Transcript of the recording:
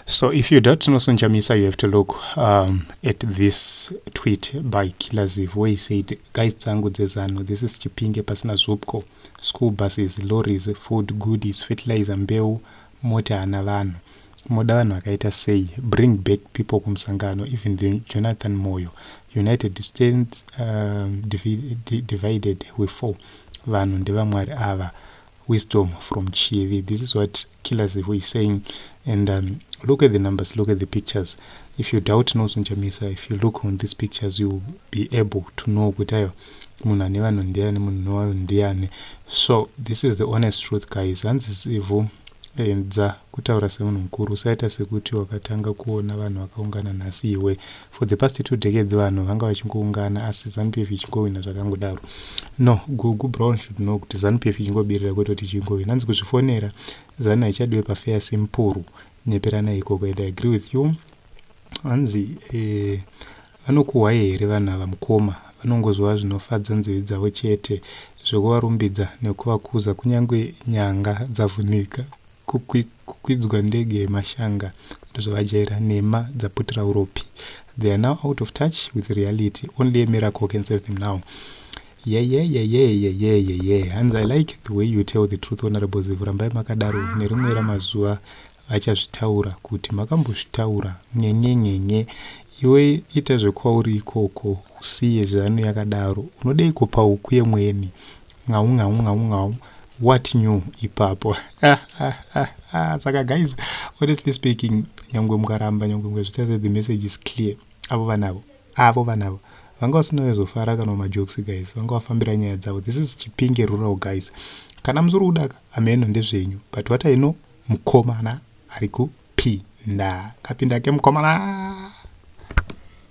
So if you doubt Noson Chamisa, you have to look um, at this tweet by Killer Ziv, where he said, Guys, Tsangu Zezano, this is Chipinge Pasina Zupko, school buses, lorries, food, goodies, fertilizer, mbeu, mota anavan. moda vanhu vakaita sei bring back people kumusangano even the jonathan moyo united stands um, divided we four vanhu ndevamwari ava wisdom from chivi this is what killer zivo is saying and um, look at the numbers look at the pictures if you doubt nozonchamisa if you look on these pictures you be able to know kuti ayo munhu ane vanhu ndiani munhu nowanhu ndiani so this is the honest truth guys hanzi zivo enza kutaura semunhu mukuru usaita sekuti wakatanga kuona vanhu vakaungana nhasi iwe for the past two decades vanhu vanga vachingoungana asi zanu pf ichingowina zvakangodaro no gugu brown should know kuti zanu pf ichingobirira kwete kuti ichingowina hanzi kuzvifonera zanu haichadiwe pafeya sempuru nyeperana ikoko and i agree with you hanzi eh, vanokuhwai here vanhu ava mukoma vanongozova zvinofadza nzivi dzavo chete zvekuvarumbidza nekuvakuza kunyange nyanga dzavhunika kukwidzwa ndege yemashanga ndozvavajaira nhema dzaputira uropi they are now out of touch with reality only a miracle can save them now yeyeyeyeyeyeyeye hanzi i like the way you tell the truth honorable zivu rambai makadaro nerimwe ramazuva vachazvitaura kuti makambozvitaura nyenyenyenye iwe ita zvekwauri ikoko usiye zano yakadaro unodeiko pauku yemweni ngau ngau ngau ngau what new ipapo saka guys honestly speaking nyangwe mukaramba nyangwe mukazvitasa the message is clear avo vanavo avo vanavo vanga vasina vezofara kana majokes guys vanga vafambira nyaya dzavo this is chipinge rural guys kana musiri kudaka ameno ndezvenyu but what i know mukomana ari kupinda kapinda ke mukomana